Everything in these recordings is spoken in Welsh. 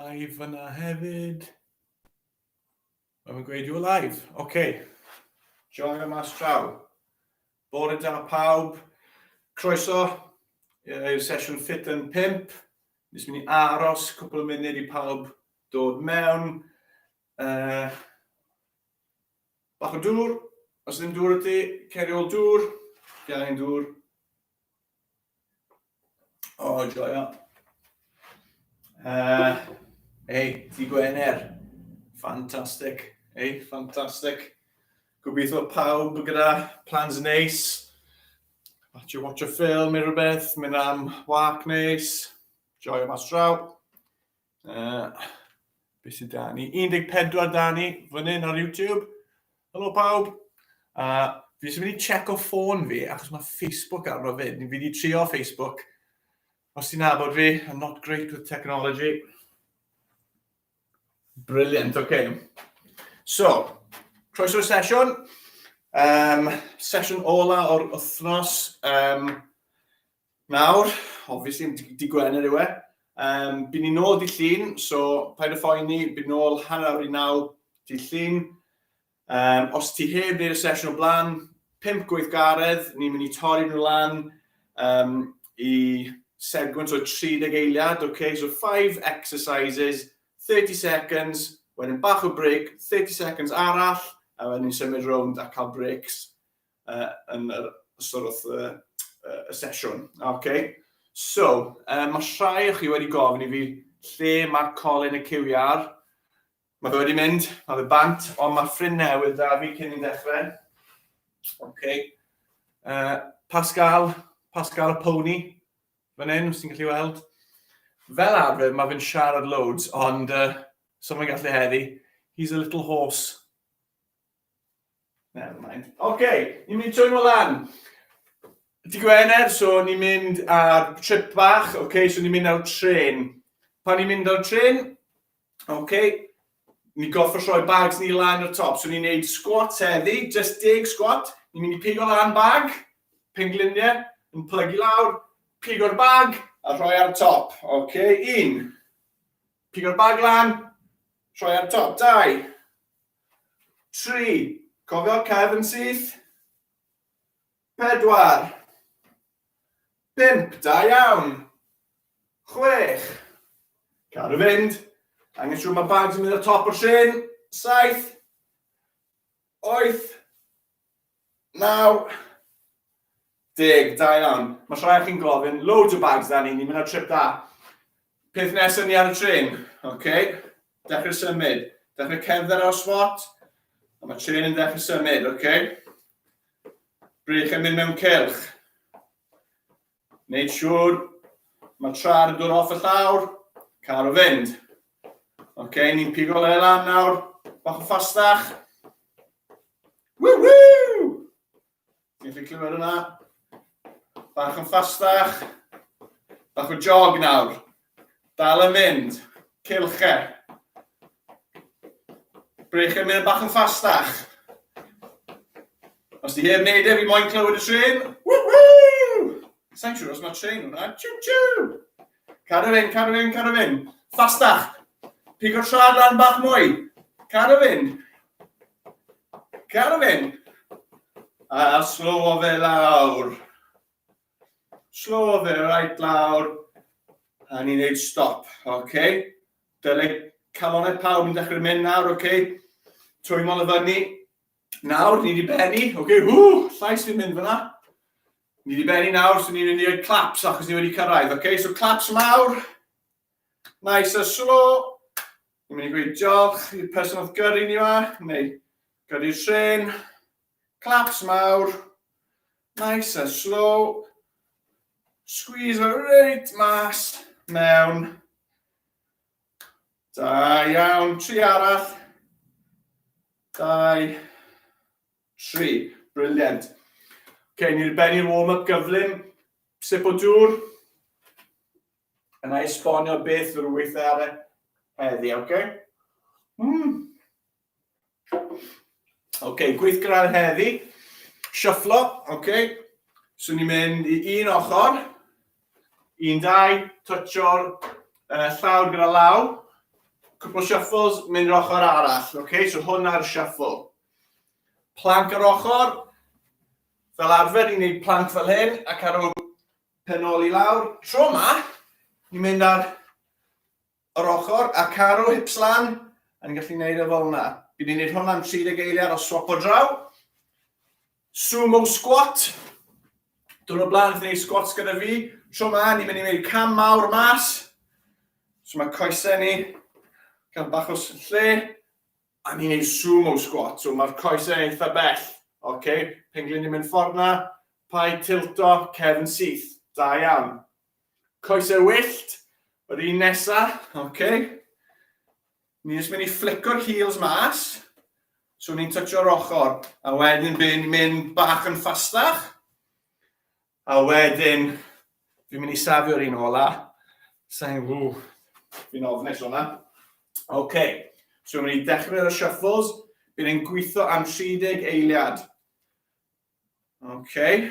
Live fyna hefyd. Mae'n mynd gweud you're live. Oce. Okay. Joio mas traw. Bore da pawb. Croeso i'r sesiwn ffit yn pimp. Nes mynd i aros cwpl o munud i pawb dod mewn. Uh, bach o dŵr. Os ddim dŵr o ti, ceri ôl dŵr. Gael ein dŵr. O, oh, joio. Uh, ei, di Gwener. Fantastic. Ei, fantastic. Gobeithio pawb gyda plans neis. Watch you watch a film neu rhywbeth, mynd am wak neis. Joio mas draw. Uh, beth sydd da ni? 14 da ni, fan hyn ar YouTube. Helo pawb. Uh, fi eisiau mynd i check o ffôn fi, achos mae Facebook arno fyd. Fi wedi trio Facebook. Os ti'n abod fi, I'm not great with technology. Brilliant, oce. Okay. So, croeso'r sesiwn. Um, sesiwn ola o'r wythnos. Um, Nawr, obviously, di Gwener yw e. Um, byd ni'n ôl di llun, so paid o phoeni, byd ni'n ôl hanner awr i naw di llun. Um, os ti heb wneud y sesiwn o blaen, pimp gweithgaredd, ni'n mynd i torri nhw lan um, i segment o 30 eiliad, okay? so 5 exercises, 30 seconds, wedyn bach o break, 30 seconds arall, a wedyn ni'n symud rownd a cael breaks. uh, yn yr sort of, uh, uh, sesiwn. Okay. So, uh, mae rhai o chi wedi gofyn i fi lle mae Colin y QR. Mae fe wedi mynd, mae fe bant, ond mae ffrind newydd da fi cyn i'n dechrau. Okay. Uh, Pascal, Pascal y Pony, fan hyn, os ti'n gallu weld. Fel arfer, mae fe'n siarad loads, ond uh, so mae'n gallu heddi. He's a little horse. Never mind. Oce, okay, ni'n mynd trwy nhw lan. Di Gwener, so ni'n mynd ar trip bach, oce, okay, so ni'n mynd ar tren. Pan ni'n mynd ar tren, oce, okay, ni'n goffa rhoi bags ni lan o'r top, so ni'n neud squat heddi, just deg squat, ni'n mynd i pigo lan bag, pengliniau, yn plygu lawr, pigo'r bag a rhoi ar top, oce, okay, un. Pigo'r bag lan, rhoi ar top, dau. Tri, cofio'r cefn syth? Pedwar. Pump, da iawn. Chwech. Car y fynd. Angen siŵr mae bawb sy'n mynd ar top o'r trên. Saith. Oeth. 92 iawn. Mae rhai o chi'n gofyn, loads o bags da ni, ni'n mynd ar trip da. Peth nesaf ni ar y tren, oce? Okay? Dechrau symud, dechrau cerdded ar swat, a mae tren yn dechrau symud, oce? Okay? Bryd chi'n mynd mewn cylch. Neud siŵr, mae tra ar y dŵr off y llawr, car o fynd. Ok, ni'n pigo le lan nawr, bach o ffastach. Woohoo! Ti'n gallu clywed hwnna? Bach yn ffastach. Bach o jog nawr. Dal yn mynd. Cylch e. Brech yn mynd bach yn ffastach. Os ti heb wneud e, fi moyn clywed y tren. Woohoo! Sa'n siŵr os mae tren hwnna. Choo choo! Cadw fynd, cadw fynd, cadw fynd. Ffastach. Pigo trad lan bach mwy. Cadw fynd. Cadw fynd. A slow o fe lawr. Slow fe right lawr. A ni'n neud stop, oce? Okay? Dylai calonau pawb yn dechrau mynd nawr, oce? Okay? Trwy mol y fyny. Nawr, ni wedi benni, oce? Okay? Hw, llais fi'n mynd fyna. Ni wedi benni nawr, so ni'n mynd i roi claps achos ni wedi cyrraedd, oce? Okay? So claps mawr. Nice a slow. Ni'n mynd i gweud diolch i'r person oedd gyrru ni yma, neu gyrru'r tren. Claps mawr. Nice and slow. Squeeze fo reit mas mewn. Da iawn, tri arall. Dau, tri. Brilliant. Ok, ni'n bennu'r warm-up gyflym. Sip o dŵr. Yna esbonio beth yw'r weithiau ar e heddi, ok? Mm. OK, gweithgar heddi. Shufflo, OK. So ni'n mynd i un ochr. Un, dau, twtio'r uh, llawr gyda law. Cwpl shuffles, mynd i'r ochr arall. OK, so hwnna'r shuffle. Plank ar ochr. Fel arfer, ni'n gwneud plank fel hyn, ac ar ôl penoli lawr. Tro yma, ni'n mynd ar Yr ochr a caru hips lan, a ni'n gallu neud e fel 'na. Fi 'di neud hwn am 30 eiliad o swapo draw. Sumo squat. Dwrnod o blaen, neud squats gyda fi. Tro 'ma, ni'n mynd i neud cam mawr mas. So mae coesau ni, cael bach o lle, a ni'n neud sumo squat. So mae'r coesau eitha bell. OK, penglin ni'n mynd ffordd 'na, paid tilto, cefn syth. Da iawn. Coesau wyllt, yr un nesa, oce. Okay. Ni jyst mynd i fflico'r heels mas. So ni'n toucho'r ochr, a wedyn fi'n mynd bach yn ffastach. A wedyn, fi'n mynd i safio'r un ola. Sa'n fw, fi'n ofnus o'na. Oce, okay. so fi'n mynd i dechrau y shuffles. Bydd e'n gweithio am 30 eiliad. Oce. Okay.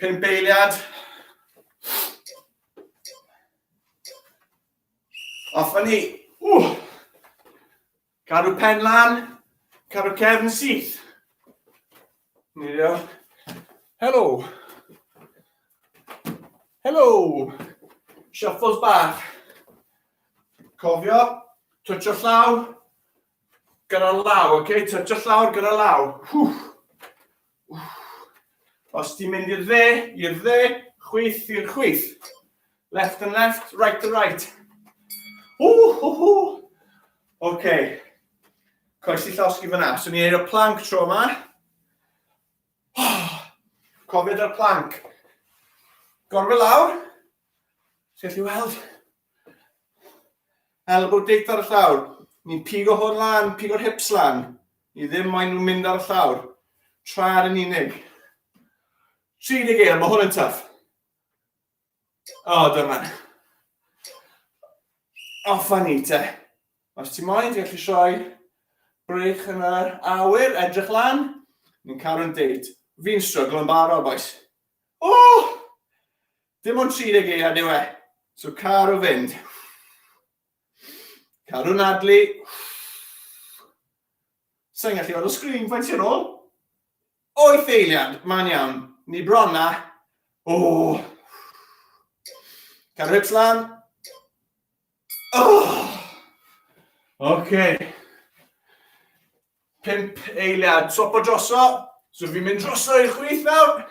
Pump eiliad. Off ni. Ww. Cadw pen lan. Cadw cefn syth. Ni dio. Helo. Helo. Shuffles bach. Cofio, twtio llaw, gyda'r law, oce? Okay? Twtio llawr gyda'r law. Hwff. Os ti'n mynd i'r dde, i'r dde, chwyth i'r chwyth. Left and left, right and right. Hú, hú, hú. OK. Coes i llosgi fyna. So ni'n eiro plank tro yma. Oh, cofiad ar plank. Gorfod lawr. Sgell i weld. Elbow date ar y llawr. Ni'n pigo hwn lan, pigo'r hips lan. Ni ddim moyn nhw'n mynd ar y llawr. Tra'n yn unig. 30 eil, mae hwn yn tuff. O, oh, dyma. Offa ni te. Os ti'n moyn, ti'n gallu sioi breich yn yr awyr, edrych lan. Ni'n cael yn date. Fi'n struggle yn barod, boys. O! Oh! Dim ond 30 eiliad yw e. So car o fynd. Car o nadlu. Sa'n gallu o'r sgrin faint i'r ôl. Oeth eiliad, man iawn. Ni bron na. O! Car o hips lan. O! Oce. Pimp eiliad. Swap o droso. So fi'n mynd droso i'r chwith nawr.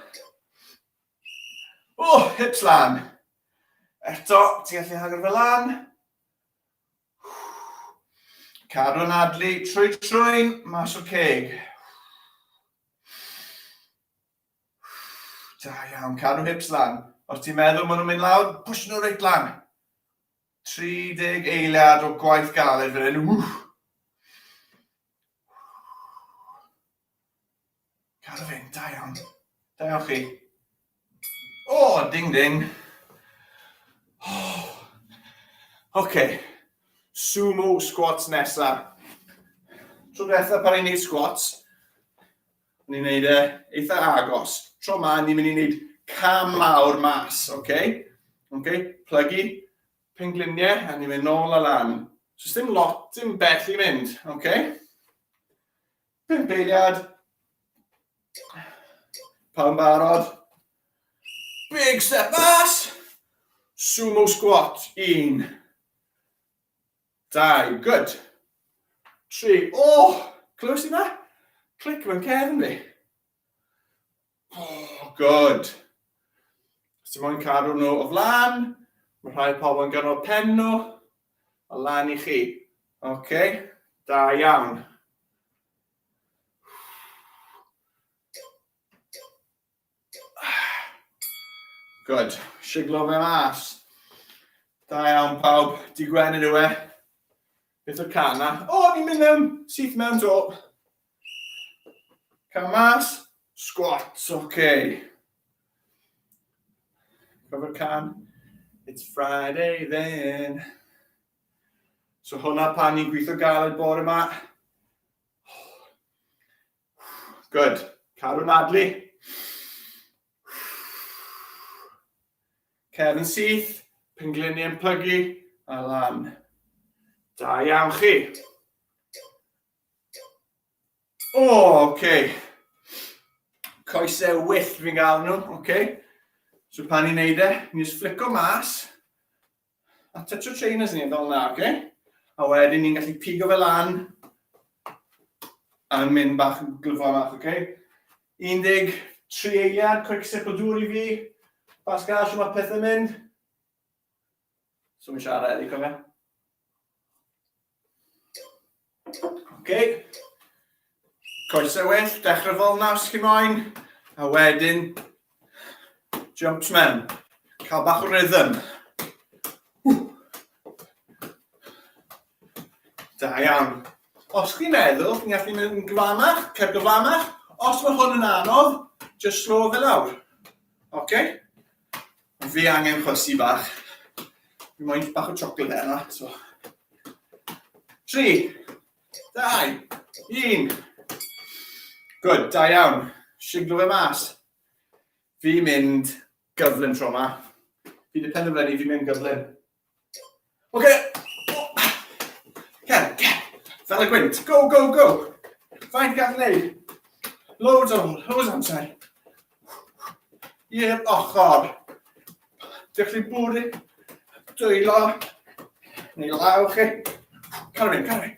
O, hips lan. Eto, ti'n gallu hagor fe lan. Cadw'n adlu trwy trwy'n mas o'r ceg. Da iawn, cadw hips lan. Os ti'n meddwl maen nhw'n mynd lawr, push nhw reit lan. 30 eiliad o gwaith galed fan hyn. Cadw fe'n da iawn. Da iawn chi. O, oh, ding ding. Oh. OK. Sumo squats nesa. Tro diwetha pan i'n neud squats, ni'n neud e eitha agos. Tro ma, ni'n mynd i neud cam mawr mas, OK? OK, plygu, pengliniau, a ni'n mynd nôl a lan. So, ddim lot, dim bell i mynd, OK? Pump eiliad. Pawb barod. Big step mas. Sumo squat. Un. Dau. Good. Tri. Oh! Clywys i na? Clic mewn cefn ni. Oh, good. Os ti'n mwyn cadw nhw o flan, mae rhai pobl yn ganol pen nhw, o lan i chi. Oce, okay. da iawn. Good, siglo fe mas. Da iawn pawb, di gwenyn yw e. Beth o'r can na? O, ni'n mynd mewn, syth mewn to. Come mas. Squats, oce. Okay. Cover can. It's Friday then. So hwnna pan ni'n gweithio galed bore yma. Good. Carw Nadlu. Kevin Syth, pengliniau yn plygu, a lan. Da iawn chi. O, oh, oce. Okay. Coesau wyllt fi'n gael nhw, oce. Okay. So pan ni'n neud e, ni'n just flico mas. A touch o trainers ni, fel yna, oce. Okay. A wedyn ni'n gallu pigo fe lan. A'n mynd bach yn glyfo bach, oce. Okay. 13 eiliad, quick sip o dŵr i fi. Pascal, sy'n mae pethau mynd? So mi'n siarad edrych cofio. Ok. Coesau well, dechrau fel na os chi moyn. A wedyn, jumps mewn. Cael bach o rhythm. Da iawn. Os chi'n meddwl, chi'n gallu mynd yn gyfamach, cer gyfamach. Os mae hwn yn anodd, just slow fe lawr. Ok? Mae fe angen chwysu bach. Fi moyn bach o chocolate heno, so. Tri, dau, un. Good, da iawn. Siglo fe mas. Fi mynd gyflym tro yma. Fi wedi penderfynu fi mynd gyflym. Oce. Cer, cer. Fel y gwynt. Go, go, go. Faint gall wneud? Loads o, loads amser. I'r ochr. Dych chi'n bwrw, dwylo, neu law chi. Cael mynd, cael mynd.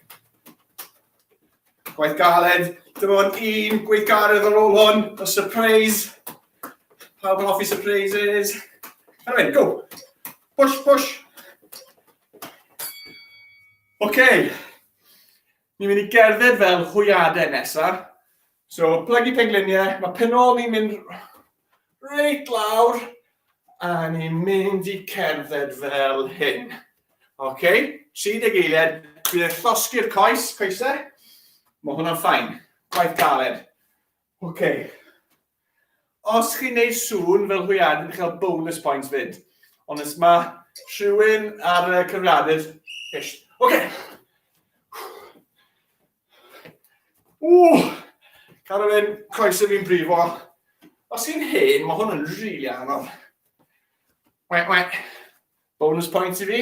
Gwaith galed. Dyma o'n un gweithgaredd ar ôl hwn. A surprise. Pawb yn offi surprises. Cael mynd, go. Push, push. Oce. Okay. Ni'n mynd i gerdded fel hwyadau nesa. So, plygu pengliniau. Mae penol ni'n mynd reit lawr. A ni'n mynd i cerdded fel hyn. Oce. Okay. 30 eiliad. Bydd e'n llosgi'r coes, coesau. Mae hwnna'n ffain. Gwaith galed. Oce. Okay. Os chi'n neud sŵn fel hwyad yn cael bonus points fyd. Ond os ma rhywun ar y cyfriadur, ish. Oce! Ww! Cadw fe'n coesau fi'n brifo. Os chi'n hen, mae hwn yn rili really anodd. Wait, wait. Bonus points i fi.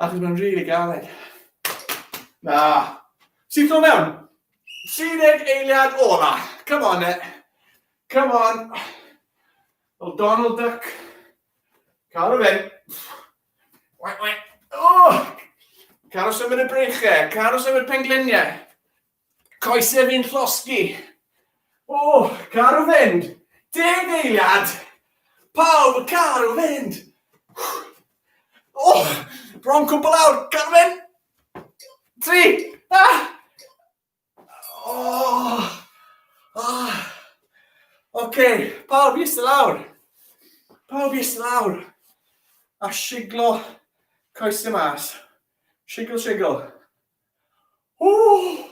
Achos mae'n rili galed. Na. Sy'n ffilm mewn? 30 eiliad ola. Come on, it. Eh. Come on. Well, Donald Duck. Cael o fynd. Wai, wai. Oh! Cael o symud y breichau. Cael o symud pengliniau. Coese fi'n llosgi. O, caru fynd! Deg eiliad! Pawb yn caru fynd! O, bron cwbl awr, caru fynd! Tri! Ah! O! Ah! Oce, pawb i ystod lawr. Pawb i ystod lawr. A siglo coesau mas. Sigl, sigl. Ww!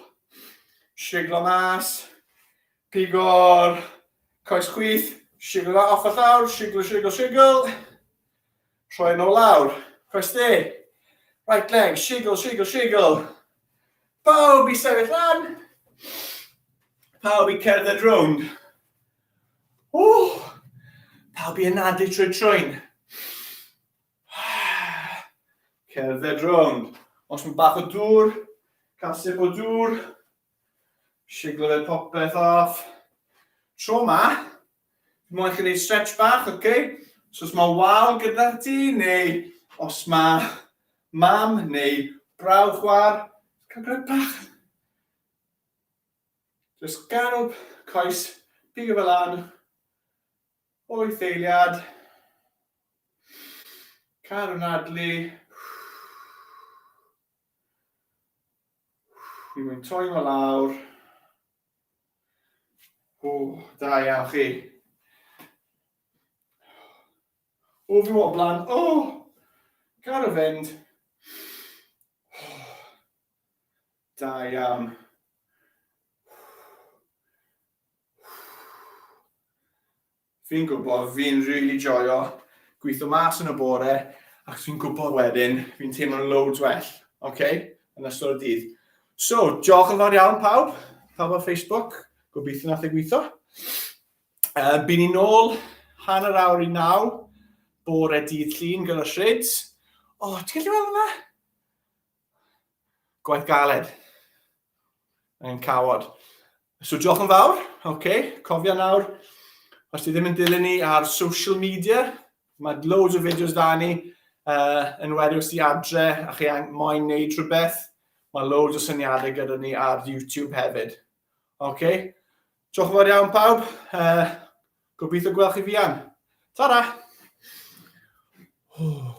Siglo mas. Pigo'r coes chwith. Siglo fe off y llawr. Siglo, siglo, siglo. Troi nhw lawr. Coes de. Right leg. Siglo, siglo, siglo. Pawb i sefyll lan. Pawb i cerdded rownd. Ww! Pawb i ynadu trwy trwyn. Cerdded rownd. Os mae bach o dŵr, cael sip o dŵr. Siglo fe popeth off. Tro ma, fi moyn chi wneud stretch bach, oce? Okay? So os mae wal gyda ti, neu os mae mam neu brawd chwar, cael gwneud bach. Just garw coes, pigo fe lan, O'i ddeiliad, car yn adlu. Fi mwyn toi fo lawr. O, da iawn chi. O, fi o blaen. O, car y fynd. Da iawn. Fi'n gwybod, fi'n really joio gweithio mas yn y bore, ac fi'n gwybod wedyn, fi'n teimlo'n loads well, oce, okay? yn ystod y dydd. So, diolch yn fawr iawn pawb, pawb ar Facebook, gobeithio nath ei gweithio. Uh, Byn ni'n ôl hanner awr i naw, bore dydd llun gyda Shrids. O, oh, ti'n gallu weld hwnna? Gwaith galed. Yn cawod. So diolch yn fawr. Oce, okay. cofia nawr, os ti ddim yn dilyn ni ar social media, mae loads o fideos da ni, uh, yn wedi os ti adre a chi moyn neud rhywbeth, mae loads o syniadau gyda ni ar YouTube hefyd. Oce, okay. Diolch yn fawr iawn pawb. Uh, gobeithio gweld chi fian. Ta-ra! Oh.